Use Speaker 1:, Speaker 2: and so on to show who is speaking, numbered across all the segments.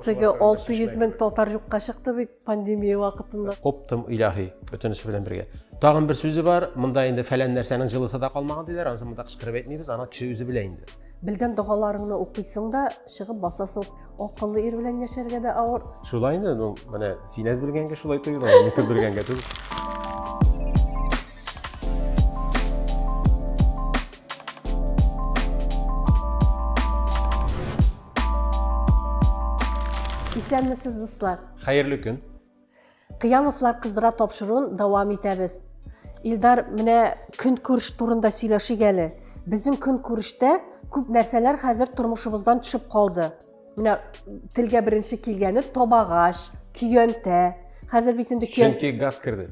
Speaker 1: Теге 600 мең татар юкка чыкты бит пандемия вакытында. Оптым илаһи,
Speaker 2: бөтенесе белән бергә. Тагын бер сүзе бар, монда инде фәлән нәрсәнең җылысы да калмаган диләр, анысы монда кычкырып әйтмибез, аны кеше үзе белә инде. Белгән догаларыңны
Speaker 1: укыйсың да, чыгып басасың. Акыллы ир белән яшәргә дә авыр. Шулай инде, ну, менә
Speaker 2: син әз белгәнгә шулай тоела, мин күп белгәнгә түгел.
Speaker 1: Исәнмесез, дуслар! Хәерле көн!
Speaker 2: Кыямовлар
Speaker 1: кыздыра тапшыруын дәвам итәбез. Илдар, менә көнкүреш турында сөйләшик әле. Безнең көнкүрештә күп нәрсәләр хәзер тормышыбыздан төшеп калды. Менә телгә беренче килгәне табагач, көянтә. Хәзер бит инде көянтә. Чөнки газ керде.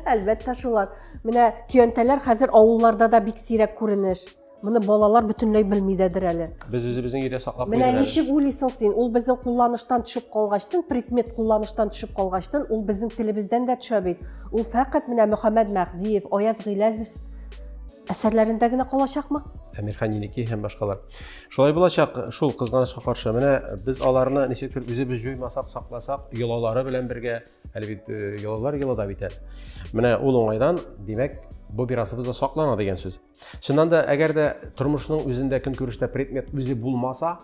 Speaker 2: Әлбәттә
Speaker 1: шулар. Менә көянтәләр хәзер авылларда да бик сирәк күренеш. Моны балалар бөтенләй белми дәдер әле. Без үзебезнең өйдә саклап
Speaker 2: Менә куйдык әле. ничек уйлыйсың
Speaker 1: син? Ул безнең кулланыштан төшеп калгачтын, предмет кулланыштан төшеп калгачтын, ул безнең телебездән дә төшә бит. Ул фәкать менә Мөхәммәд Мәһдиев, Аяз Гыйләзев әсәрләрендә генә калачакмы? Әмирхан Еникеев һәм
Speaker 2: башкалар. Шулай булачак, шул кызганычка каршы. Менә без аларны ничектер үзебез җуймасак, сакласак, йолалары белән бергә, әле бит э, йолалар йола да бит әле. Менә ул уңайдан, димәк, бу мирасыбыз да саклана дигән сүз. Чыннан да, әгәр дә тормышның үзендә көнкүрештә предмет үзе булмаса,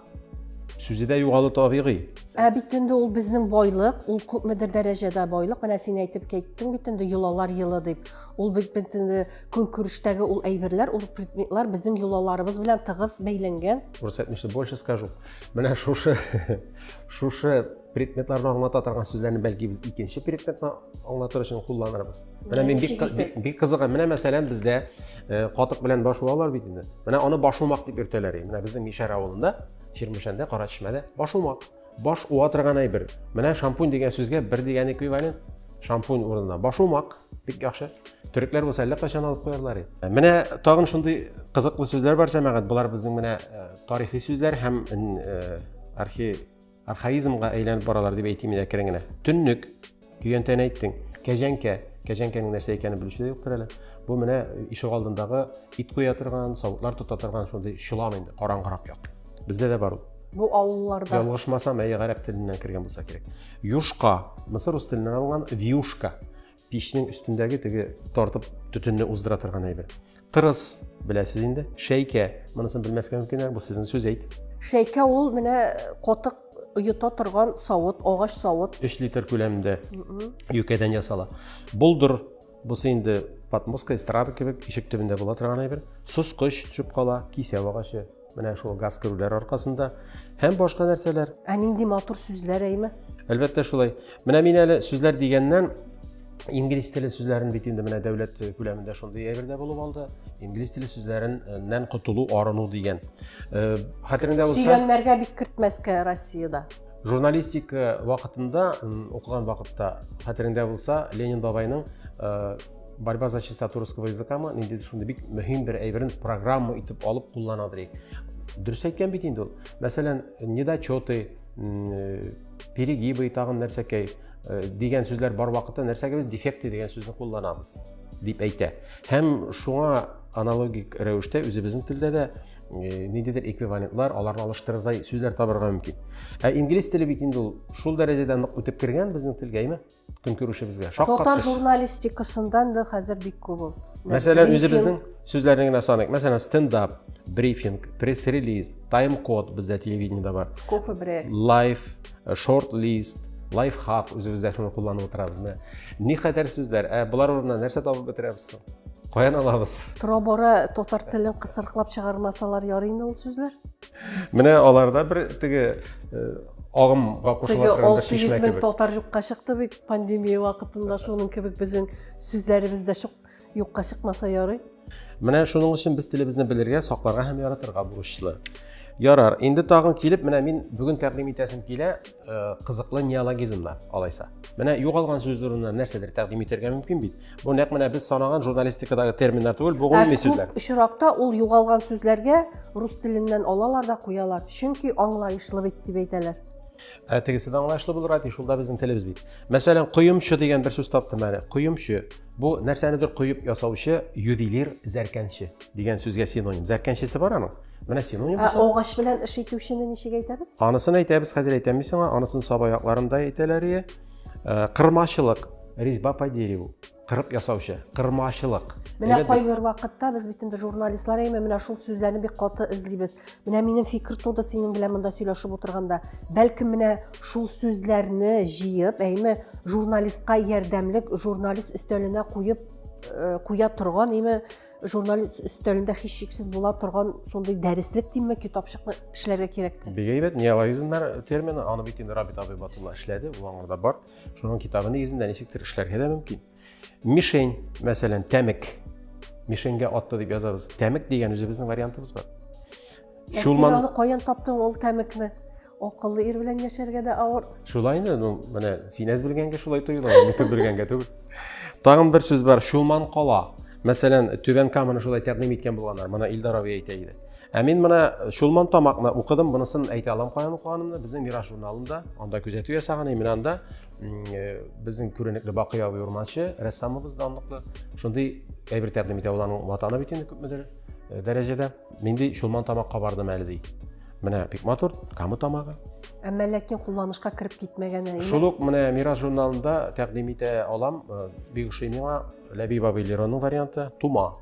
Speaker 2: сүзе дә югалы табигый. Ә бит инде ул
Speaker 1: безнең байлык, ул күпмедер дәрәҗәдә байлык. Менә син әйтеп киттең бит инде йолалар елы дип. Ул бит инде көнкүрештәге ул әйберләр, ул предметлар безнең йолаларыбыз белән тыгыз бәйләнгән. Рус әйтмешли, больше
Speaker 2: скажу. Менә шушы шушы предметларны аңлата торган сүзләрне бәлки без икенче предметны аңлатыр өчен кулланырбыз менә мин бик бик кызыгы менә мәсәлән бездә э, катык белән башуалар бит инде менә аны башумак дип йөртәләр менә безнең мишәр авылында чирмешәндә кара чишмәдә башумак баш уа торган әйбер менә шампунь дигән сүзгә бер дигән эквивалент шампунь урынына башумак бик яхшы төрекләр булса әллә кайчан алып куярлар иде э, менә тагын шундый кызыклы сүзләр бар җәмәгать болар безнең менә э, тарихи сүзләр һәм архи Архаизмга әйләнеп баралар дип әйтим мин әкрен генә. Төннек, көянтәне әйттең, кәҗәнкә, кәҗәнкәнең нәрсә икәнен белүче дә юктыр әле. Бу менә ишек алдындагы ит куя торган, савытлар тота торган шундый чолан инде, караңгырак як. Бездә дә бар ул. Бу авылларда.
Speaker 1: Ялгышмасам, әйе, гарәп
Speaker 2: теленнән кергән булса кирәк. Юшка, мисыр рус теленнән алынган вьюшка. Пичнең өстендәге теге тартып төтенне уздыра торган әйбер. Тырыс, беләсез инде. Шәйкә, монысын белмәскә мөмкин, бу сезнең сүз әйт. Шәйкә ул менә
Speaker 1: котык оета торган савыт, агач савыт. 3 литр күләмендә
Speaker 2: юкәдән ясала. Болдыр, бусы инде подмостка, эстрада кебек, ишек төбендә була торган әйбер. Соскыч төшеп кала, кисәү агачы. менә шул газ керүләр аркасында һәм башка нәрсәләр ә нинди матур
Speaker 1: сүзләр әйме әлбәттә шулай
Speaker 2: менә мин әле сүзләр дигәннән инглиз теле сүзләрен бит инде менә дәүләт күләмендә шундый әйбер дә булып алды инглиз теле сүзләреннән котылу арыну дигән э, хәтереңдә булса сөйләмнәргә бик кертмәскә
Speaker 1: россиядә журналистика
Speaker 2: вакытында укыган вакытта хәтереңдә булса ленин бабайның э, борьба за чистоту русского языка ма ниндидер шундый бик мөһим бер әйберен программа итеп алып куллана дирек дөрес әйткән бит инде ул мәсәлән недочеты э, перегибы тагын нәрсәкәй э, дигән сүзләр бар вакытта нәрсәгә без дефекты дигән сүзне кулланабыз дип әйтә һәм шуңа аналогик рәвештә үзебезнең телдә дә э, ниндидер эквивалентлар аларны алыштырырдай сүзләр табарга мөмкин ә инглиз теле бит инде ул шул дәрәҗәдә нык үтеп кергән безнең телгә әйме көнкүрешебезгә шаккаткыч татар
Speaker 1: журналистикасында инде хәзер бик күп ул мәсәлән үзебезнең
Speaker 2: сүзләрне генә саныйк мәсәлән стендап брифинг пресс релиз тайм код бездә телевидениеда бар кофе бре лайф шорт лист лайф хак үзебездә шуны кулланып утырабыз менә никадәр сүзләр ә болар урынына нәрсә табып бетерәбез соң каян алабыз тора бара татар
Speaker 1: телен кысрыклап чыгармасалар ярыймы ул сүзләр Менә
Speaker 2: аларда бер теге э, агымга кушыла торган бер чишмә кебек. татар
Speaker 1: юкка чыкты бит пандемия вакытында шуның кебек безнең сүзләребез дә юкка чыкмаса ярый. Менә шуның
Speaker 2: өчен без телебезне белергә, сакларга һәм яратырга бурычлы. Ярар, инде тагын килеп, менә мин бүген тәкъдим итәсем килә, Э, кызыклы неологизм бар алайса менә югалган сүз урынына нәрсәдер тәкъдим итәргә мөмкин бит бу нәкъ менә без санаган журналистикадагы терминнар түгел бу гомуми сүзләр күп очракта ул
Speaker 1: югалган сүзләргә рус теленнән алалар да куялар чөнки аңлаешлы бит дип әйтәләр ә тегесе
Speaker 2: дә аңлаешлы булыр әти шул да безнең телебез бит мәсәлән коемчы дигән бер сүз таптым әле коемчы бу нәрсәнедер коеп ясаучы ювелир зәркәнче дигән сүзгә синоним зәркәнчесе бар аның Менә синоним Ә булса. агач белән эш итүчене
Speaker 1: ничек әйтәбез? Анысын әйтәбез, хәзер
Speaker 2: әйтәм мин аңа, анысын саба якларында әйтәләр ие. Э, кырмачылык, резьба по дереву, кырып ясаучы, кырмачылык. Менә Әйбәт бит. кайбер
Speaker 1: вакытта без бит инде журналистлар әйме, менә шул сүзләрне бик каты эзлибез. Менә минем фикер туды синең белән монда сөйләшеп утырганда. Бәлкем менә шул сүзләрне җыеп, әйме, журналистка ярдәмлек, журналист өстәленә куеп э, куя торган, әйме, журнал өстәлендә һичшиксез була торган шундый дәреслек димме китапчыкны эшләргә кирәк тә бик әйбәт неологизмнар
Speaker 2: термины аны бит инде рабит абый батулла эшләде ул аңарда бар шуның китабы нигезендә ничектер эшләргә дә мөмкин мишень мәсәлән тәмек мишеньгә атты дип язабыз тәмек дигән үзебезнең вариантыбыз бар ә син
Speaker 1: аны каян таптың ул тәмекне Акыллы ир белән яшәргә дә авыр. Шулай инде, ну,
Speaker 2: менә син әз белгәнгә шулай тоела, мин күп белгәнгә түгел. Тагын бер сүз бар, Шулман кала. Мәсәлән, Түбән Каманы шулай тәкъдим иткән булганнар. Моны Илдар абый әйтә иде. Ә мин менә Шулман тамакны укыдым, монысын әйтә алам каян укыганымны. Безнең Мираж журналында, анда күзәтү ясаган, и менә анда э, безнең күренекле Бакый абый урманчы, рәссамыбыз данлыклы. Шундый әйбер тәкъдим итә, ул аның ватаны бит инде күпмедер э, дәрәҗәдә. Нинди чулман тамакка бардым әле ди. Менә бик матур, камы тамагы. Әмма ләкин
Speaker 1: кулланышка кереп китмәгән әле. Шул ук менә Мирас
Speaker 2: журналында тәкъдим итә алам. Э, бик ошый миңа Ләбиб абый Леронның варианты Тума.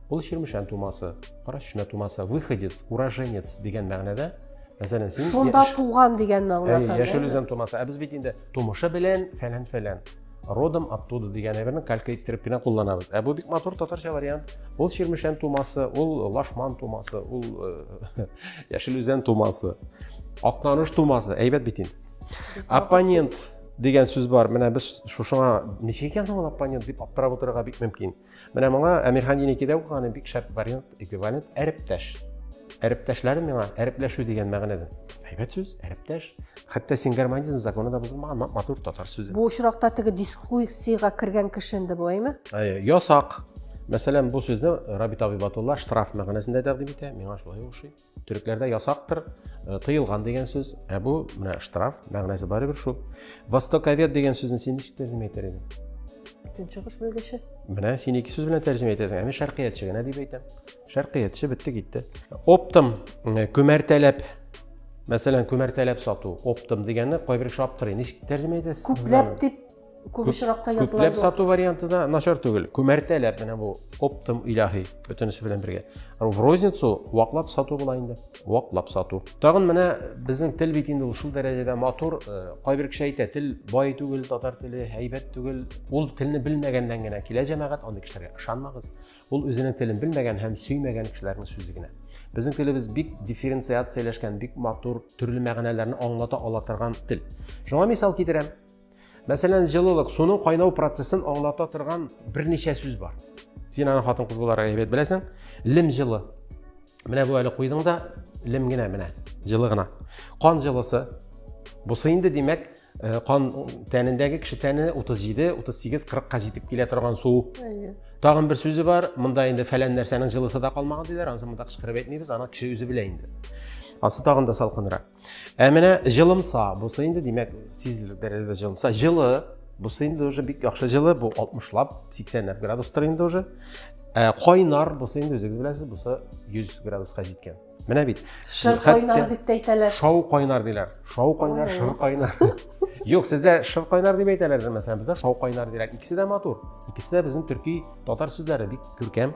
Speaker 2: Ул Чирмешән тумасы, Кара Чишмә тумасы, выходец, уроженец дигән мәгънәдә. Мәсәлән, син Шунда туган дигән
Speaker 1: мәгънә. Яшел үзән тумасы. Ә без
Speaker 2: бит инде тумышы белән фәлән-фәлән. родом оттуда дигән әйберне калька иттереп кенә кулланабыз ә бу бик матур татарча вариант ул чирмешән тумасы ул лашман тумасы ул э, яшел үзән тумасы акнаныш тумасы әйбәт бит инде оппонент дигән сүз бар менә без шушыңа ничек икән соң ул оппонент дип аптырап утырырга бик мөмкин Менә моңа Әмирхан Еникидә укыганы бик шәп вариант, эквивалент әрептәш. Әрептәшләре миңа әрепләшү дигән мәгънәдә. Әйбәт сүз, әрептәш. Хәтта сингармонизм законы да бозылмаган матур татар сүзе. Бу очракта теге
Speaker 1: дискуссиягә кергән кеше инде бу, әйме? Әйе, ясак.
Speaker 2: Мәсәлән, бу сүзне Рабит Абибатулла штраф мәгънәсендә тәкъдим итә, миңа шулай ошый. Төрекләрдә ясактыр, э, тыелган дигән сүз, ә бу менә штраф, мәгънәсе барыбер шул. Востоковед дигән сүзне син ничек тәрҗемә итәр идең? Көнчыгыш
Speaker 1: белгече. Менә син ике сүз
Speaker 2: белән тәрҗемә итәсең, ә мин шәркыятьче генә дип әйтәм. Шәркыятьче бетте китте. Оптом э, күмәртәләп Мәсәлән, күмәртәләп сату, оптом дигәнне кайбер кеше аптырый. Ничек тәрҗемә итәсез? Күпләп дип
Speaker 1: күп очракта языла. Күпләп сату варианты да
Speaker 2: начар түгел. Күмәртәләп менә бу оптом иляхи бөтенесе белән бергә. В розницу ваклап сату була инде. Ваклап сату. Тагын менә безнең тел бит инде шул дәрәҗәдә матур. Э, кайбер кеше әйтә, тел бай түгел, татар теле һәйбәт түгел. Ул телне белмәгәннән генә килә җәмәгать, андый кешеләргә ышанмагыз. Ул үзенең телен белмәгән һәм сөймәгән кешеләрнең сүзе генә. Безнең телебез бик дифференциацияләшкән, бик матур, төрле мәгънәләрне аңлата ала торган тел. Шуңа мисал китерәм. Мәсәлән, җылылык, суның кайнау процессын аңлата торган берничә сүз бар. Син аны хатын-кыз буларак әйбәт беләсең. Лем җылы. Менә бу әле куйдың да, лем генә менә, җылы гына. Кан җылысы. Бусы инде, димәк, э, кан тәнендәге кеше тәне 37, 38, 40 ка җитеп килә торган су. Тагын бер сүзе бар, монда инде фәлән нәрсәнең җылысы да калмаган диләр, анысы монда кычкырып әйтмибез, аны кеше үзе белә инде. Ансы тагын да салкынрак. Ә менә җылымса, бусы инде димәк сизелер дәрәҗәдә җылымса, җылы, бусы инде уже бик яхшы җылы, бу 60лап, 80ләп градустыр инде уже. Ә кайнар бусы инде үзегез беләсез, бусы 100 градуска җиткән. Менә бит. Шыр кайнар дип
Speaker 1: тә әйтәләр. Шау кайнар диләр.
Speaker 2: Шау кайнар, шыр кайнар. Юк, сездә шыр кайнар дип әйтәләр, мәсәлән, бездә шау кайнар диләр. Икесе дә матур. Икесе дә безнең төрки татар сүзләре бик күркәм.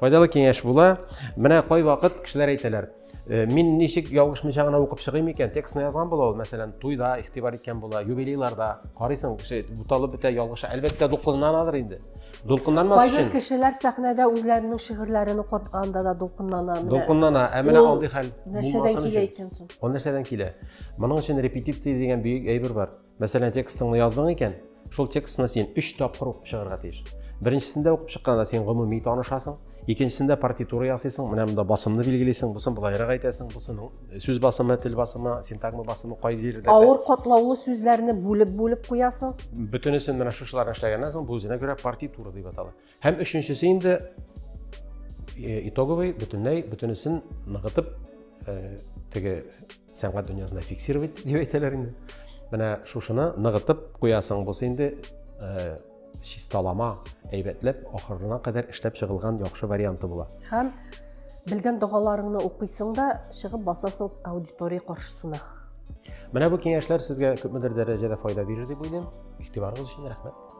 Speaker 2: Файдалы киңәш була. Менә кайвакыт кешеләр әйтәләр, Э, мин ничек ялгышмыйча гына укып чыгыйм икән текстны язган була ул мәсәлән туйда игътибар иткән була юбилейларда карыйсың кеше буталып бетә ялгыша әлбәттә дулкынланадыр инде дулкынланмас өчен кайбер кешеләр
Speaker 1: сәхнәдә үзләренең шигырьләрен укытканда да дулкынлана дулкынлана ә менә
Speaker 2: андый хәл нәрсәдән килә икән
Speaker 1: соң ул нәрсәдән килә
Speaker 2: моның өчен репетиция дигән бөек әйбер бар Мәсәлән, текстыңны яздың икән, шул текстны син өч тапкыр укып чыгарга тиеш. Беренчесендә укып чыкканда син гомуми танышасың, икенчесендә партитура ясыйсың, менә монда басымны билгелисең, бусын былайрак әйтәсең, бусының э, сүз басымы, тел басымы, синтагма басымы кай җирдә. Авыр катлаулы
Speaker 1: сүзләрне бүлеп-бүлеп куясың. Бөтенесен менә
Speaker 2: шушыларны эшләгәннән соң бу үзенә күрә партитура дип атала. Һәм өченчесе инде э, итоговый бөтенләй бөтенесен ныгытып э, теге сәнгать дөньясында фиксировать дип әйтәләр инде менә шушыны ныгытып куясың булса инде э, чисталама әйбәтләп ахырына кадәр эшләп чыгылган яхшы варианты була һәм
Speaker 1: белгән догаларыңны укыйсың да чыгып басасың аудитория каршысына менә бу
Speaker 2: киңәшләр сезгә күпмедер дәрәҗәдә файда бирер дип уйлыйм игътибарыгыз өчен рәхмәт